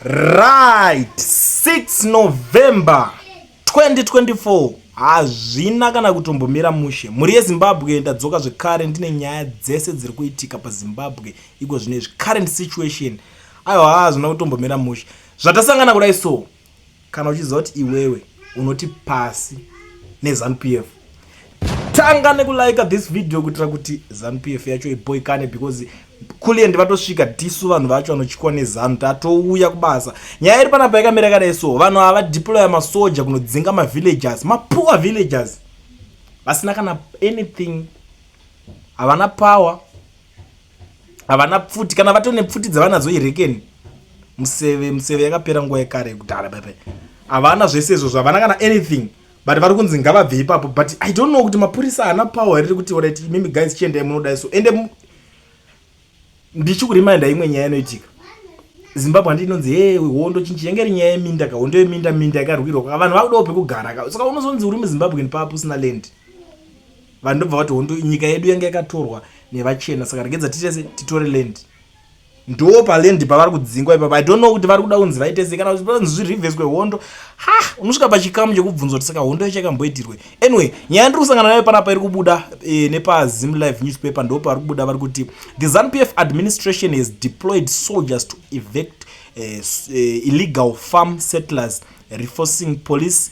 Right, 6 November 2024 hazvina kana kutombomira mushe. Mhuri yeZimbabwe ndadzoka zvekare ndine nyaya dzese dziri kuitika paZimbabwe iko zvine izvi current situation. Aiwa hazvina kutombomira mushe. Zvatasangana kudai so Kana uchiziva kuti iwewe unoti pasi nezanu pf tanga nekulika this video kuitira kuti zanu pf yacho iboikane because kuliendi vatosvika tisu vanhu vacho vanotywa nezanu tatouya kubasa nyaya iri panapa yakamira kadai so vanhu ava deploya masoja kunodzinga mavillagers mapoor villagers vasina kana anything havana power havana pfuti kana vato nepfuti dzavanadzo irekeni museve museve yakapera nguva yekare yekudhara pepe havana zvese izvo zvavana kana anything but vari kunzi ngavabve ipapo but i don't know kuti mapurisa haana power here rekuti orit imimi guys chiendai munodai so ende ndichikuriminda imwe nyaya inoitika zimbabwe handi inonzi he hondo chinchi yenge ri nyaya yeminda ka hondo yeminda minda yakarwirwa ka vanhu vakudawo pekugara ka saka unozonzi uri muzimbabwe papo usina land vanhu ndobva vati hondo nyika yedu yanga yakatorwa nevachena saka regedza titese titore land ndo paland pavari kudzingwa ipapa i don't know kuti vari kuda kunzi vaitese kana kuti zvirivheswe hondo ha unosvika pachikamu chekubvunzwa kuti saka hondo yacho yakamboitirwe anyway nyaya ndiri kusangana nayo panapa iri kubuda e, nepazim live newspaper ndo pavari kubuda vari kuti the zanupf administration has deployed soldiers to evect uh, uh, illegal farm settlers reforcing police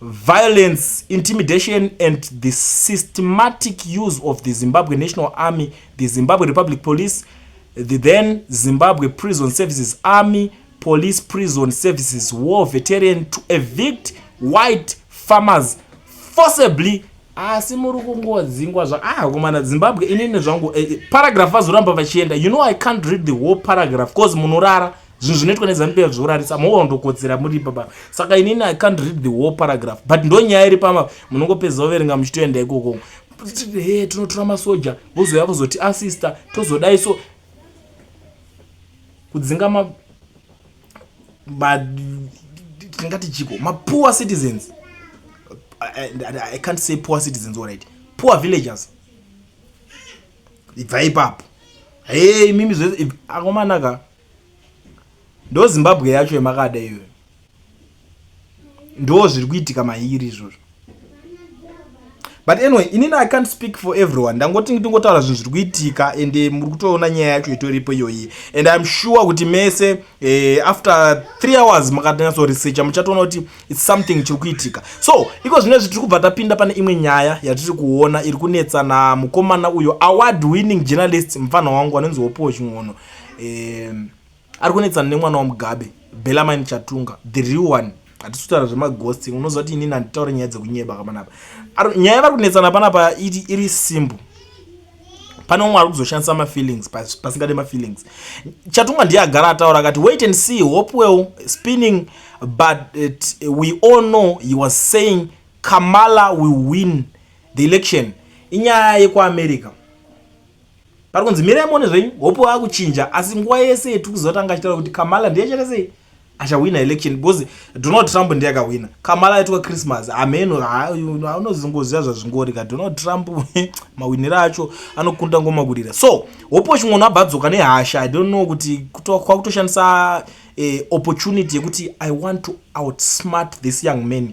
violence, intimidation and the systematic use of the Zimbabwe National Army, the Zimbabwe Republic Police, the then Zimbabwe Prison Services Army, Police Prison Services War Veteran to evict white farmers forcibly asi muri kungodzingwa zva ah komana zimbabwe inini zvangu eh, eh paragraph vazoramba vachienda you know i can't read the whole paragraph bcause munorara zvinhu zvinoitwa nezanu pf zvorarisa moona ndokodzera muri papa saka inini i can't read the whole paragraph but ndonyaya iri pama munongopedza overenga muchitoenda ikoko he tinotora masoja vozouya kuzoti asista ah, tozodai so kudzinga ma tingati chiko mapoor citizens I, I, i can't say poor citizens alright poor villagers ibva ipapo hei mimi zve akomanaka ndo zimbabwe yacho yamakada iyoyo ndo zviri kuitika mairi izvozvo but anyway inini i can't speak for everyone ndangoti ndingotaura zvinhu zviri kuitika and eh, muri kutoona nyaya yacho itoripo iyoyi and iam sure kuti mese eh, after three hours makatanyasoresearcha muchatoona kuti its something chiri kuitika so iko zvino izvi tiri kubva tapinda pane imwe nyaya yatiri kuona iri kunetsa namukomana uyo award winning journalist mupfanha wangu anonzi wopowo chin'ono um ari kunetsana nemwana wamugabe belamine chatunga the real one hatisi kutaura zvemaghost unoziva kuti inini handitaure nyaya dzekunyeba kamanapa nyaya yavari kunetsana panapa iti iri simbo pane umwe ari kuzoshandisa mafeelings pasingade mafeelings chatunga ndiye agara ataura akati wait and see hopewell spinning but it, we all know he was saying kamala will win the election inyaya yekuamerica pari kunzi mirai muone zvenyu hope waakuchinja asi nguva yese yetiri kuziva tanga achitaura kuti kamala ndiye achaita sei achahwina election because donald trump ndiye akahwina kamala aitwa christmas hameno anozongoziva zvazvingori ka donald trump mahwiniro acho anokunda ngomakurira so hopo chimwe unhu abvadzoka nehasha i don't know kuti kwakutoshandisa eh, opportunity yekuti i want to outsmart this young man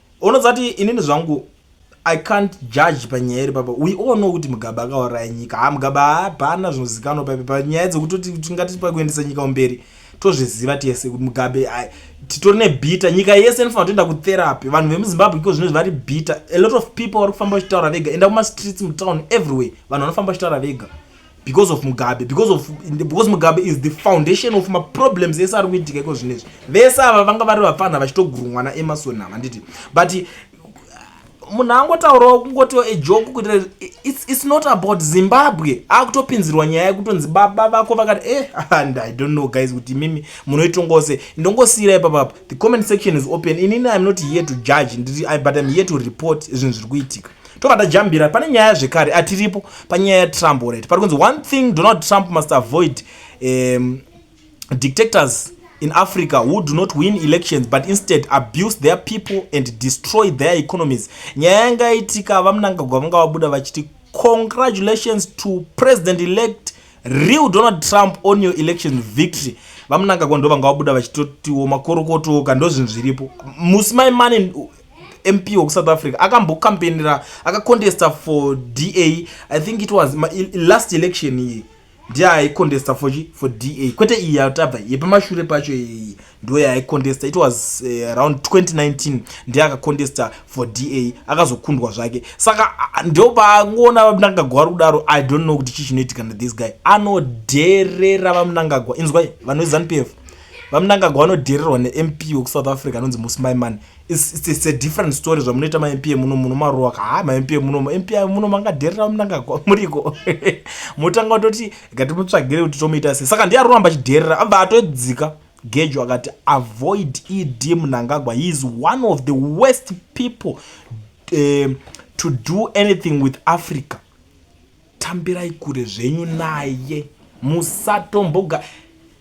unoziva kuti inini zvangu i can't judge panyaya iri papa we all know kuti mugaba akauraya nyika ha mugaba hapana zvinozikanwa paipi panyaya dzekutoti tingati pakuendesa nyika umberi tozviziva tese kuti mugabe titori nebita nyika yese inofanira toenda kutherapi vanhu vemuzimbabwe iko zvino zvivari bita a lot of people vari kufamba vachitaura vega enda kumastreets mutown everywhere vanhu vanofamba vachitaura vega because of mugabe because of because mugabe is the foundation of maproblems ese ari kuitika iko zvino izvi vese ava vanga vari vapfanha vachitogurumwa naemarson ava nditi but uh, munhu angotaurawo kungotiwo ejoke kuitira it's, it's not about zimbabwe akutopinzirwa nyaya yekutonzi baba vako vakati eh and i don't know guys kuti mimi munoitongawo se ndongosiyira ipapapa the comment section is open inini im not here to judge ndiri but im here to report zvinhu zviri kuitika tobva tajambira pane nyaya zvekare atiripo panyaya yatrump already pari kunzi one thing donald trump must avoid um, dictators in africa who do not win elections but instead abuse their people and destroy their economies nyaya yanga itika vamunangagwa vanga vabuda vachiti congratulations to president elect real donald trump on your election victory vamunangagwa ndo vanga vabuda vachitotiwo makorokotoka ndozvinhu zviripo musi maimane mp wekusouth africa akambokampenera akacontesta for da i think it was ma, last election iyi ndiye aicontesta for, for da kwete iyi yatabva yepamashure pacho iyi ndo yaicontesta it was uh, eh, around 2019 ndiye akacontesta for da akazokundwa zvake saka ndopangoona vamunangagwa vari kudaro i don't know kuti chii chinoitika na this guy anodherera vamunangagwa inzwai vanoizanupf vamunangagwa vanodhererwa nemp wekusouth africa anonzi musimai mani It's, it's, it's a different story zvamunoita mampm muno muno maruwa ka ha mampm muno mpm muno mangaderera munanga muriko motanga kutoti gatimutsvagire kuti tomuita sei saka ndiye aroramba achiderera abva atodzika gejo akati avoid ed munangagwa he is one of the worst people uh, to do anything with africa tambirai kure zvenyu naye musatomboga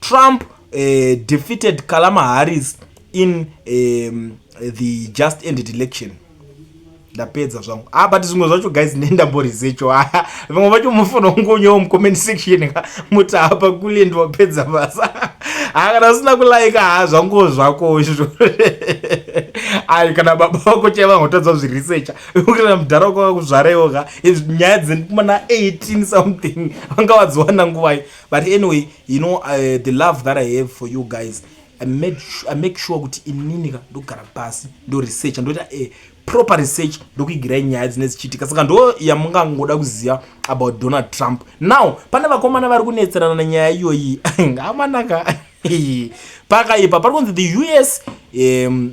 Trump uh, defeated Kalama Harris in um, the just ended election ndapedza zvangu ah but zvimwe zvacho guys nendamborizecho aya vamwe vacho mufana ungonyewo mucomment section ka muti apa kule ndiwapedza basa haa kana usina kulaika haa zvanguwo zvako izvo ayi kana baba vako chai vangotadza zvirisecha ukana mudhara wako vakuzvaraiwo ka nyaya dzemana 18 something vanga vadziwana nguvai but anyway you know uh, the love that i have for you guys i made i make sure kuti inini ka ndogara pasi ndo research ndoita a proper research ndokuigirai nyaya dzine dzichiitika saka ndo yamungangoda kuziva about donald trump now pane vakomana vari kunetserana nenyaya iyoyi ngamanaka pakaipa pari kunzi the us um,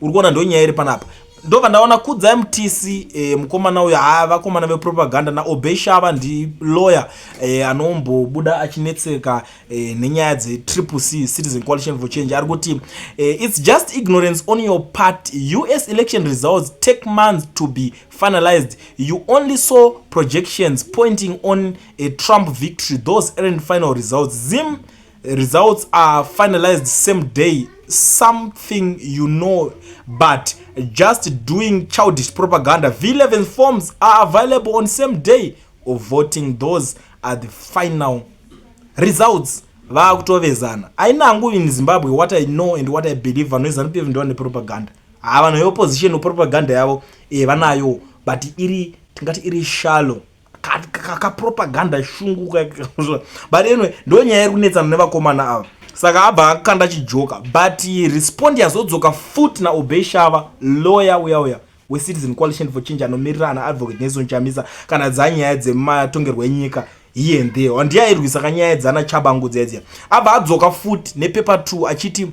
uri kuona ndonyaya iri panapa ndobva ndaona kudza mtc eh, mukomana uyo haa vakomana vepropaganda naobey shava ndi lawyer eh, anombobuda achinetseka eh, nenyaya dzetriple c citizen coalition for change ari kuti eh, its just ignorance on your part us election results take months to be finalized you only saw projections pointing on a trump victory those aren't final results zim results are finalized same day something you know but just doing childish propaganda v11 forms are available on same day of voting those are the final results vaakutovezana aina hangu in zimbabwe what i know and what i believe vanovezana kuti vndiwa nepropaganda haa vanhu veopposition propaganda yavo e vanayo but iri tingati iri shallow kakapropaganda shungu but anyway ndo nyaya iri kunetsana nevakomana ava saka abva akanda chijoka but respond yazodzoka fut naobey shava lawyer uya uya wecitizen coalition for change anomirira ana advocate nelson chamisa kana dzanyaya dzematongerwo enyika here and there handiyairwisa kanyaya dzana chabangu dziya dziya abva adzoka fut nepepa 2 achiti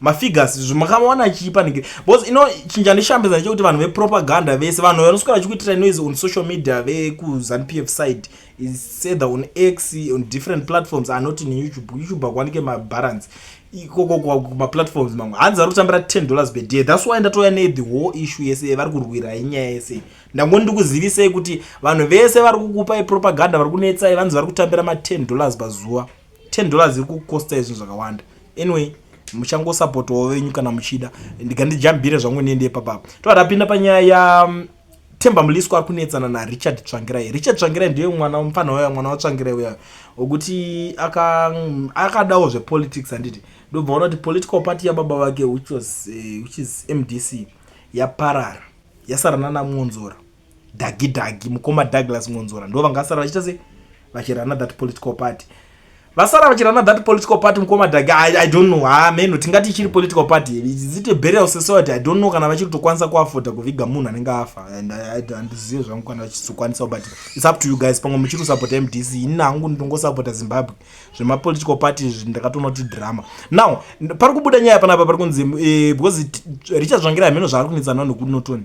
mafigures zvimakamuwana achiipa nigiri because you know chinhu chandishambidza ndechekuti vanhu vepropaganda vese vanhu vanoswera vachikuitira noise on social media vekuzanp f side is either on x on different platforms are not in youtube youtube akuwanike mabalance ikokokmaplatforms mamwe hanzi ari kutambira 10 dollars per day thats why ndatouya ne the whole issue yese vari kurwira inyaya yese ndangoni ndikuzivisei kuti vanhu vese vari kukupai propaganda vari kunetsai vanzi vari kutambira ma 10 dollars pazuva 10 dollars ziri kukosta izvo zvakawanda anyway muchangosapotawo venyu kana muchida ndikandijambire zvangu niende ipapapa tova tapinda panyaya ya mm, temba muliswa ari kunetsana narichard tsvangirai richard tsvangirai ndiye mwana mupfanha waya mwana watsvangirai uyayo wekuti mm, akadawo zvepolitics handiti ndobva ona kuti political party yababa vake which is eh, mdc yaparara yasarana namwonzora Dagi Dagi mukoma Douglas Mwonzora ndo vangasara vachita se vachirana that political party vasara vachirana that political party mukoma Dagi I, I don't know ha meno tingati ichiri political party is it a burial society I don't know kana vachiri kutokwanisa kuafoda kuviga munhu anenge afa and handizive zvangu kana vachizokwanisa but it's up to you guys pamwe muchiri kusapota MDC ini hangu ndongosapota Zimbabwe zvema political party izvi ndakatoona kuti drama now pari kubuda nyaya panapa pari kunzi eh, because Richard Zvangira hameno zvaari kunetsa nao nekuti notoni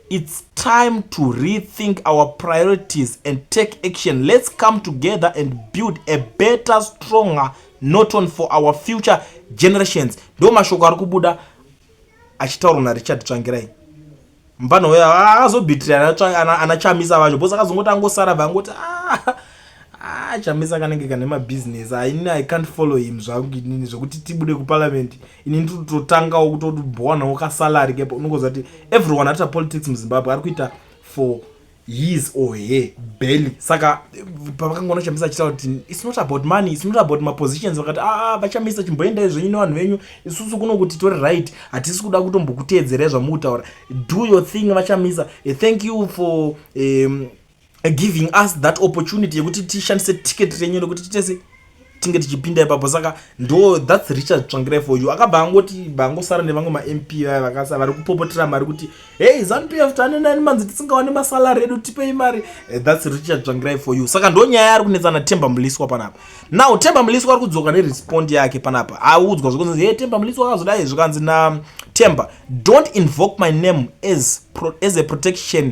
It's time to rethink our priorities and take action. Let's come together and build a better, stronger Norton for our future generations. Ndo mashoko ari kubuda achitaurwa naRichard Tsvangirai. Mvana uyo azobitirana ana Chamisa vacho bosa akazongoti angosara vangoti ah, ah Chamisa kanenge kane mabusiness. Ini I can't follow him zvangu inini zvekuti tibude kuparliament ini ndiri kutotangawo kutoti bowanawo kasalary kepo unongoziva kuti everyone arita politics muzimbabwe ari kuita for his or her belly saka pavakangoona chamisa achitaura kuti its not about money its not about mapositions vakati aa ah, ah, vachamisa chimboendai zvenyu nevanhu venyu isusu kuno kuti tore right hatisi kuda kutombokuteedzerai zvamukutaura do your thing vachamisa eh, thank you for um, giving us that opportunity yekuti tishandise ticket renyu rekuti titese tinge tichipinda ipapo saka ndo thats richard tsvangirai for you akabva angoti vangosara nevamwe mamp vaya vakasa vari kupopotera mari kuti hey zanu pf tanenani manzi tisingawane masalari edu tipei mari eh, thats richard tsvangirai for you saka ndo nyaya ari kunetsana temba muliswa panapa now temba muliswa ari kudzoka nerespond yake panapa audzwa zvokunzi hey temba muliswa akazodai zvikanzi na temba don't invoke my name as, pro, as a protection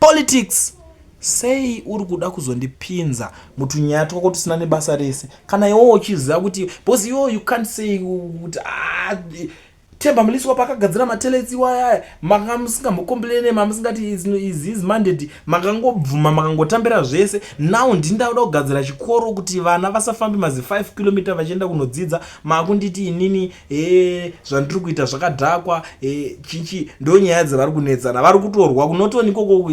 politics sei uri kuda kuzondipinza mutunyaya twako tusina nebasa rese kana iwo uchiziva kuti because iwo you can't say kuti ah, temba mulisi wapo akagadzira mateletsi iwayaya manga musingambokomplene mamusingati is mandate makangobvuma makangotambira zvese now ndini ndakuda kugadzira chikoro kuti vana vasafambe mazi 5 kilometer vachienda kunodzidza makunditi inini ee zvandiri kuita zvakadhakwa e, chichi ndo nyaya dzavari kunetsana vari kutorwa kunotoni koko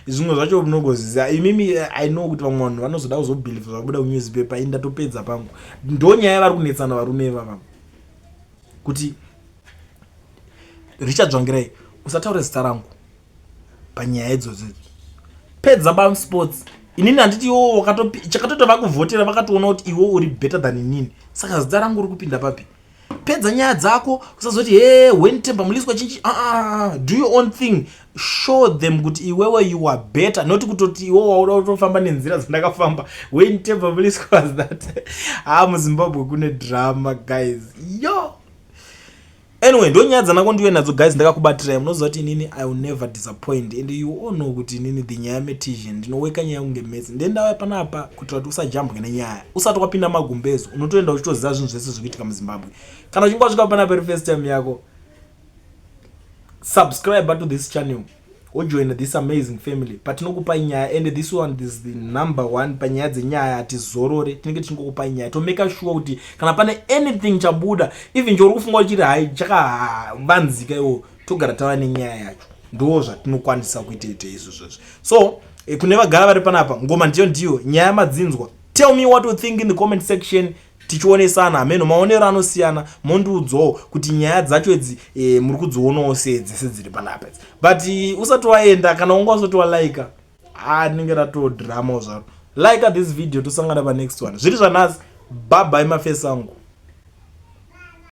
zvimwe zvacho mnogoziziva imimi eh, i know kuti vamwe vanhu vanozoda kuzobhilivha zvabuda kunewspaper i ndatopedza pangu ndo nyaya vari kunetsana varume ivava kuti richard dzvangirai usataure zita rangu panyaya idzodzo pedza ba sports inini handiti iwo chakatoita vakuvhotera vakatoona kuti iwo uri better than inini saka zita rangu uri kupinda papi pedza nyaya dzako usazoti he when temba muliswa chinchi uh, uh, do your own thing show them kuti iwewe you are better not kutoti iwo wauda kutofamba nenzira dzandakafamba when temba muliswa was that ha ah, muzimbabwe kune drama guys yo anyway ndonyaya dzanako ndiwe nadzo guys ndakakubatiraya munoziva kuti inini i will never disappoint and you all know kuti inini the nyaya metision ndinoweka nyaya kunge metsi nde ndauya panapa kuitira kuti usajambwe nenyaya usati wapinda magumbezo unotoenda uchitoziva zvinhu zvese zviri kuitika muzimbabwe kana uchinge wasvika panapa iri first time yako subscribe to this channel ojoina this amazing family patinokupai nyaya and this one is the number one panyaya dzenyaya hatizorore tinenge tichingokupai nyaya tomeka sure kuti kana pane anything chabuda even chouri kufunga uchiri hai chakavanzika iwo togara tava nenyaya yacho ndoo zvatinokwanisa kuita ite izvo zvozvo so eh, kune vagara vari panapa ngoma ndiyo ndiyo nyaya madzinzwa tell me what you think in the comment section tichionesana hameno maonero anosiyana mondiudzawo kuti nyaya dzacho idzi e, muri kudzionawo sei dzese dziri panapa idzi but eh, usati waenda kana wanga usati walaika a rinenge ratodhiramawo zvaro laika this video tosangana panext one zviri zvanhasi bhabhai mafesi angu